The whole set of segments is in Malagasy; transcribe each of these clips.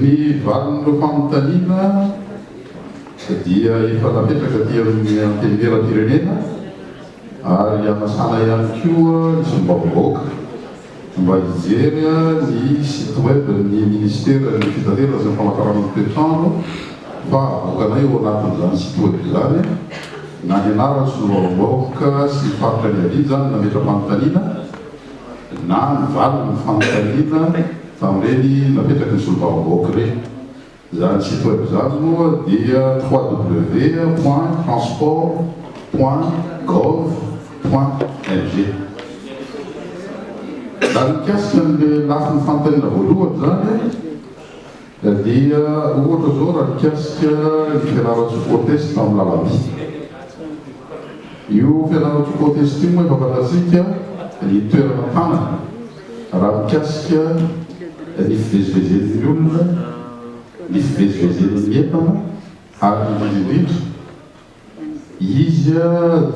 Ny valin'ireo fanontaniana dia efa napetraka aty amin'ny Antenimierampirenena ary anasana ihany koa ny Sombavam-bahoaka mba hijery ny site web ny Minisiteran'ny Fitaterana sy ny Famatarana ny Toetr'andro Fa avokanay ao anatin'izany sitro izany na ny anarana solovavangaoka sy ny faritra niaviany izany ny nametra-panontaniana na ny valin'ny fanontaniana tamin'ireny napetraky ny solovavangaoka ireny. Izany site web izany moa dia www point transport point gov point ng. Raha mikasika an'ilay lafiny fanontaniana voalohany izany, Dia ohatra zao raha mikasika ny fianarantsika ho test amin'ny lalam-by. Io fianarantsika ho test io moa efa fantatsika ny toerana tanana raha mikasika ny fivezivezen'ny olona, ny fivezivezen'ny entana ary indrindra indrindra, Izy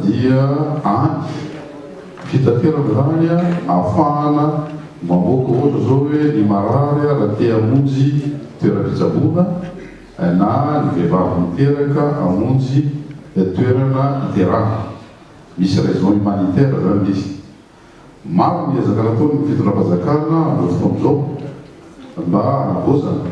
dia andry fitaterana izany ahafahana mamoaka ohatra izao hoe ny marary raha te hamonjy toeram-pitsaboana na ny vehivavy miteraka hamonjy toerana iterahana. Misy raison humanitaire izany ilay izy. Maro ny ezaka nataon'ny fitondram-panjakana amin'izao fotoana izao mba hanavaozana.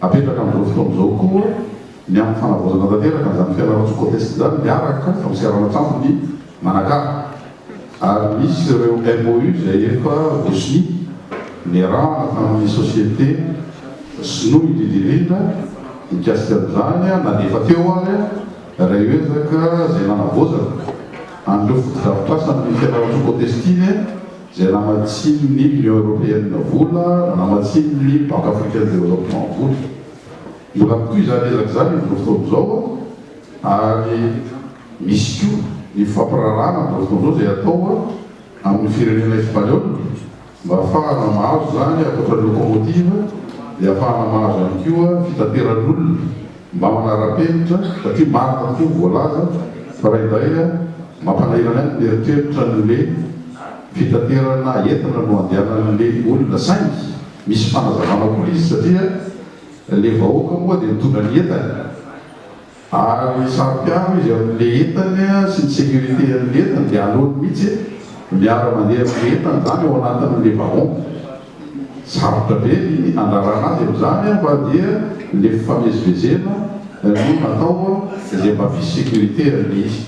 Apetraka amin'izao fotoana izao koa ny amin'ny fanavaozana tanteraka an'izany Fianarantsoa Côte Est izany miaraka amin'ny seranan-tsambo ny Manakara ary misy ireo MOU izay efa voasonia niarahana tamin'ny société sinoa indrindra indrindra mikasika an'izany na dia efa teo ary ireo ezaka izay nanavaozana an'ireo fotodrafitrasa amin'ny Fianarantsoa Côte Est iny. Izay namatsian'ny Union Européenne vola, namatsian'ny Banque Africaine de Développement vola. Mbola mitohy izany ezaka izany amin'izao fotoana izao ary misy koa ny fifampiraharahana amin'izao fotoana izao izay atao amin'ny firenena Espaniôla mba hahafahana mahazo izany ankoatra ny locomotive dia hahafahana mahazo ihany koa fitateran'olona Mba manara-penitra satria marina tokoa ny voalaza fa raha indray mampalahelo anay ny mieritreritra ny hoe fitaterana entana no andehanan'le olona saingy misy fanazavana koa izy satria le vahoaka moa dia mitondra ny entany ary saro-piaro izy amin'le entany sy ny sécurité an'le entany dia aleony mihitsy miara-mandeha amin'le entany zany ao anatin'le wagon. Sarotra be ny handrarana azy amin'izany fa dia le fifamezivezena no natao dia mba f'hisy sécurité aloha izy.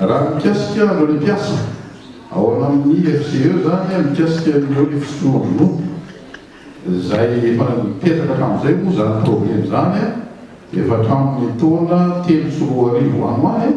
Raha mikasika anareo mpiasa ao amin'ny FCE izany mikasika ny hoe fisotroam-bonompo izay efa nipetraka hatramin'izay moa izany problème izany efa hatramin'ny taona telo sy roa arivo any ho any,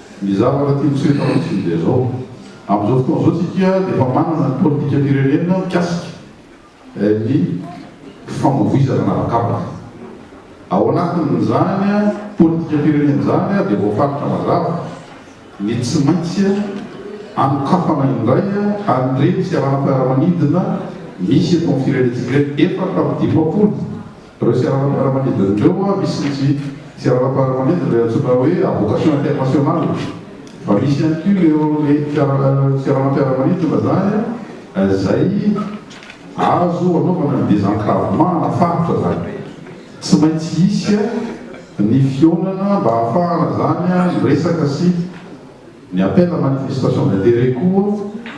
Ny zavatra tian'i Sehatra Ratsindry dia izao, amin'izao fotoana izao isika dia efa manana ny politikam-pirenena mikasika ny famoivoizana an'habakabaka. Ao anatin'izany politikam-pirenena izany dia voafaritra mazava ny tsy maintsy anokafana indray an'ireny seranam-piaramanidina misy eto amin'ny firenentsika ireny, efatra amby dimampolo Ireo seranam-piaramanidina ireo an, misy ny tsy seranam-piaramanidina ilay antsoina hoe à vocation internationale fa misy ihany koa ireo le fiara seranam-piaramanidina izany an izay azo anaovana ny désenclavement na faritra izany. Tsy maintsy hisy an ny fihaonana mba hahafahana izany an miresaka sy ny appel à manifestation d'intérêt koa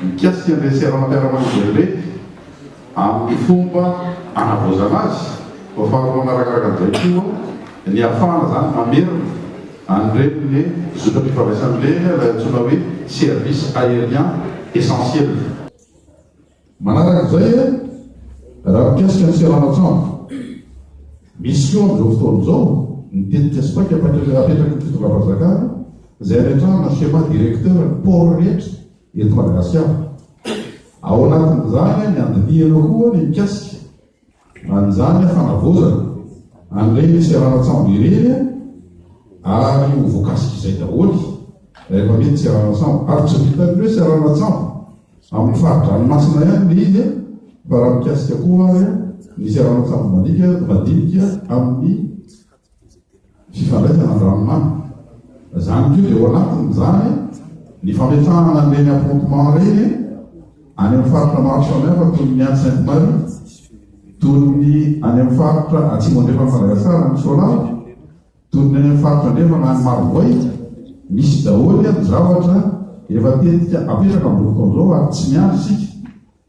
mikasika an'ireny seranam-piaramanidina ireny. Amin'ny fomba anavaozana azy, ho afarana manarakaraka an'izay koa ny hahafahana izany mamerina an'ireny zotram-pifandraisana ireny ilay antsoina hoe service aérien essentiel. Manaraka izay, raha mikasika ny seranan-tsambo, misy koa amin'izao fotoana izao ny tetika sy paika apetraky ny fitondram-panjakana izay ametrahana schéma directeur ny port rehetra eto Madagasikara. Ao anatin'izany ny andinihana koa ny mikasika an'izany fanavaozana an'ireny seranan-tsambo ireny ary ho voakasik'izay daholo rehefa mety seranan-tsambo ary tsy vitan'ny hoe seranan-tsambo amin'ny fari-dranomasina ihany ny izy fa raha mikasika koa ary ny seranan-tsambo madinika madinika amin'ny Fifandraisana amin'ny ranomamy. Izany koa dia ao anatin'izany ny fametrahana an'ireny affrontement ireny any amin'ny faritra maro samihafa toy ny any Sainte Marie, toy ny any amin'ny faritra atsimo andrefan'i Madagasikara any Soalala, toy ny any amin'ny faritra andrefana any Marovoay, misy daholo ny zavatra efa tetika apetraka amin'izao fotoana izao ary tsy miandry isika.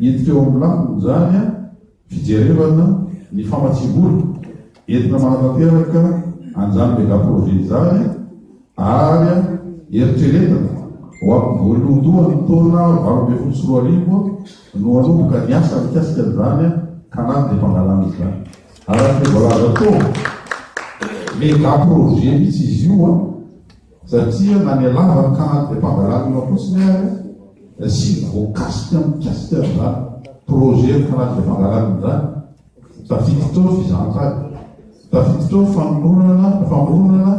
Hiditra eo amin'ny lafiny izany fijerevana ny famatsiam-bola entina manatanteraka an'izany megaprojet izany ary eritreretina ho amin'ny voalohandohan'ny taona valo ambin'ny folo sy roa arivo no hanomboka ny asa mikasika an'izany canal de Pangalana izany. Araka izay voalaza teo, megaprojet mihitsy izy io. Satria na ny lava ny kanal de Pangalacno fotsiny ary dia tsy voakasika mikasika an'izany projet ny canal de Pangalacno izany. Tafiditra ao ny fizahantany, tafiditra ao ny famoronana ny famoronana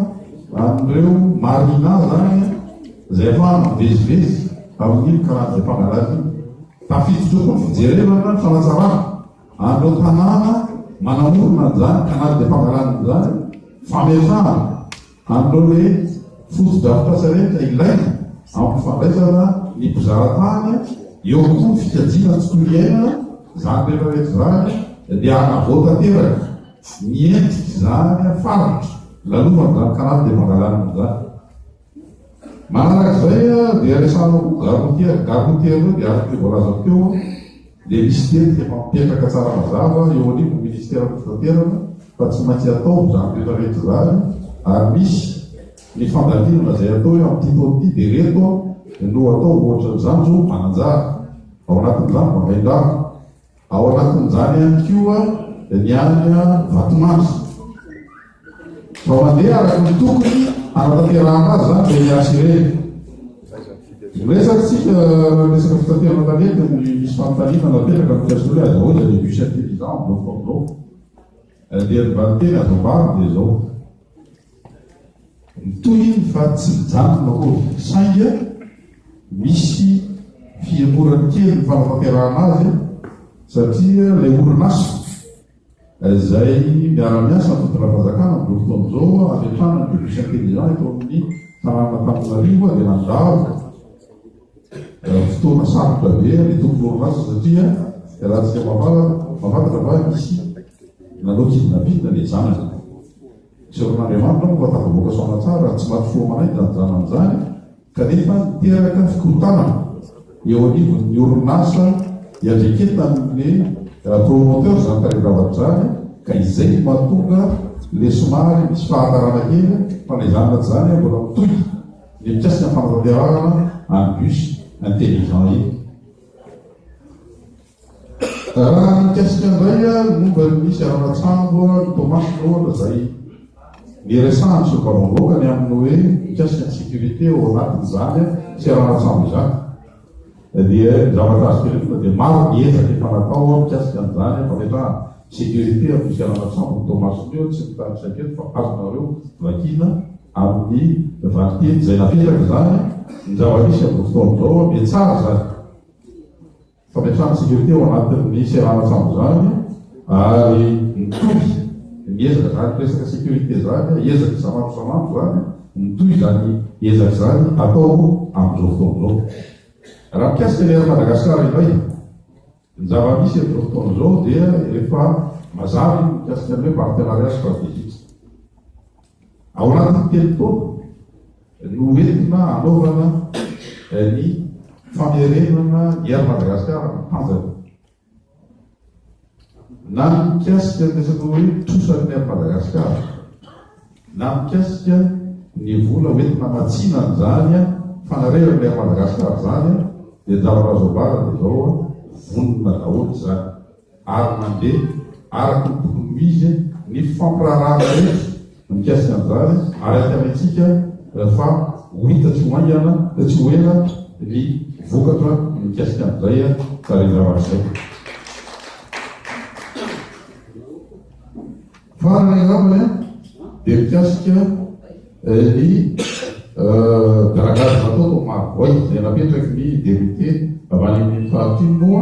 an'ireo marina izany izay ahafahana mivezivezy amin'iny canal de Pangalacno iny. Tafiditra ao koa ny fijerevana ny fanatsarana an'ireo tanàna manamorona an'izany canal de Pangalacno izany, fametrahana. Amin'ireo hoe fotodrafitrasa ireny dia ilaina ampifandraisana ny mpizahatany eo koa ny fikajiana ny tontolo iainana, izany rehetra rehetra izany dia hanavao tanteraka ny endrik'izany faritra, lalovan'izany kanal dia mangalana an'izany. Manaraka izay dia resahana hoe Garrotier, Garrotier ireo dia araka ny voalaza teo dia misy teny efa mipetraka tsara mazava eo anivon'ny Ministeran'ny Fitaterana fa tsy maintsy atao izany rehetra rehetra izany ary misy ny fandalinana izay atao hoe amin'ity taona ity dia ireto no atao ohatra ny zanjo mananjary ao anatin'izany vahaindrano Ao anatin'izany ihany koa ny any Vatomandry. Vao mandeha araka ny tokony hanatanterahana azy izany dia miasa ireny. Miresaka tsika resaka fitaterana tanety ny misy fanontaniana napetraka ny Fiasole azy ahoana dia bus intelligent, bloc bloc. Raha dia ny valinteny azo ambara dia izao, mitohy iny fa tsy mijanona akory, saingy misy fihemorany kely ny fanatanterahana azy satria ilay orinasa izay miara-miasa amin'ny fitondram-panjakana amin'izao fotoana izao hametrahana ny bus intelligent eto amin'ny tanànan'Antananarivo dia nandalo Fotoana sarotra be ny tompon'orinasa satria iarahantsika mahafantatra fa nisy nanao kidnapping ny zanany. Seron'Andriamanitra moa fa tafavoaka saona tsara, tsy maty fo aman'aina izany zanany izany kanefa niteraka fikorontanana eo anivon'ny orinasa iandreketan'ny promoteur izany tarehin-javatra izany ka izay no mahatonga ilay somary misy fahatarana kely fa na izany na tsy izany mbola mitohy Ny mpiasa fampianarana amin'ny bus intelligent iny. Raha mikasika indray ary momba ny misy araratsambo ny Toamasina ohatra izay niresahan'ny solombavambahoaka ny amin'ny hoe mikasika ny sécurité ao anatin'izany sy araratsambo izany. Dia zavatra azoko inoana dia maro ny ezaka efa natao an mikasika an'izany an fametrahana sécurité amin'ny fialana tsambo ny Toamasina eo, tsy mitarika aketo fa azonareo vakina amin'ny valiteny izay napetraka izany an ny zava-misy amin'izao fotoana izao an, dia tsara izany fametrahana sécurité ao anatin'ny seranan-tsambo izany ary mitohy ny ezaka izany resaka sécurité izany an, ezaka isan'andro isan'andro izany an. Mitohy izany ezaka izany atao moa amin'izao fotoana izao. Raha mikasika ny Air Madagascar indray, ny zava-misy amin'izao fotoana izao dia efa mazava ny mikasika ny hoe partenariat stratégique. Ao anatin'ny telo taona no entina hanaovana ny famerenana ny Air Madagascar amin'ny tanjany. Na mikasika ny resaka hoe trosan'ny Air Madagascar, na mikasika ny vola hoentina hamatsiana an'izany fanareran'ny Air Madagascar izany dia Java Razo Ambara dia izao vonona daholo izany ary mandeha araka ny tokony ho izy ny fampirarahana rehetra Mikasika an'izany, araka ny antsika, fa ho hita tsy ho haingana, tsy ho ela, ny vokatra mikasika an'izay tarehin-javatra izay. Farany angamba dia mikasika ny dragage natao tao Marovoay, izay napetraky ny député avy any amin'ny faritra iny moa,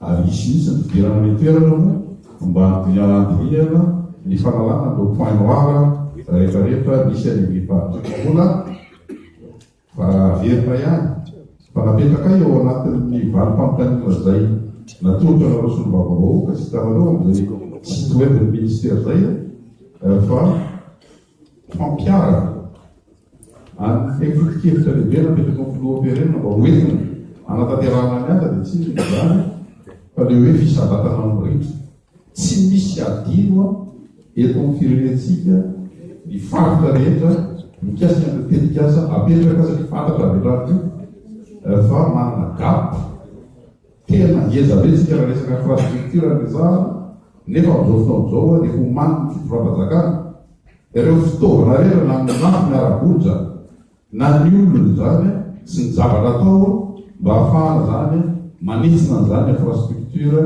Ary hisy mihitsy ny fidirana any an-toerana moa mba hianandrihana ny fanalana an'ireo points noirs rehetra rehetra misy any amin'ny faritra. Mbola fa raha averina ihany fa napetrakay ao anatin'ny valim-panontaniana izay natolotra anareo solombavambahoaka sy hitanareo amin'izay site web ny ministera izay fa fampiharana Ary ny fehifoto-kevitra lehibe napetraky ny Filoham-pirenena mba ho entina hanatanterahana ny asa dia tsy inona izany fa ilay hoe fisambatana mirindra. Tsy misy hadino eto amin'ny firenentsika ny faritra rehetra mikasika an'ireo tetikasa apetraka satria fantatra avy hatrany koa fa manana gap tena ngeza be isika raha resaka infrastructure no resahana nefa amin'izao fotoana izao dia omanin'ny fitondram-panjakana Ireo fitaovana rehetra na ny mafy ny ara-bola izany na ny olona izany sy ny zavatra atao mba hahafahana izany manitsina an'izany infrastructure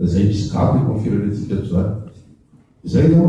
izay misy gadra eto amin'ny firenentsika eto izany. Izay no.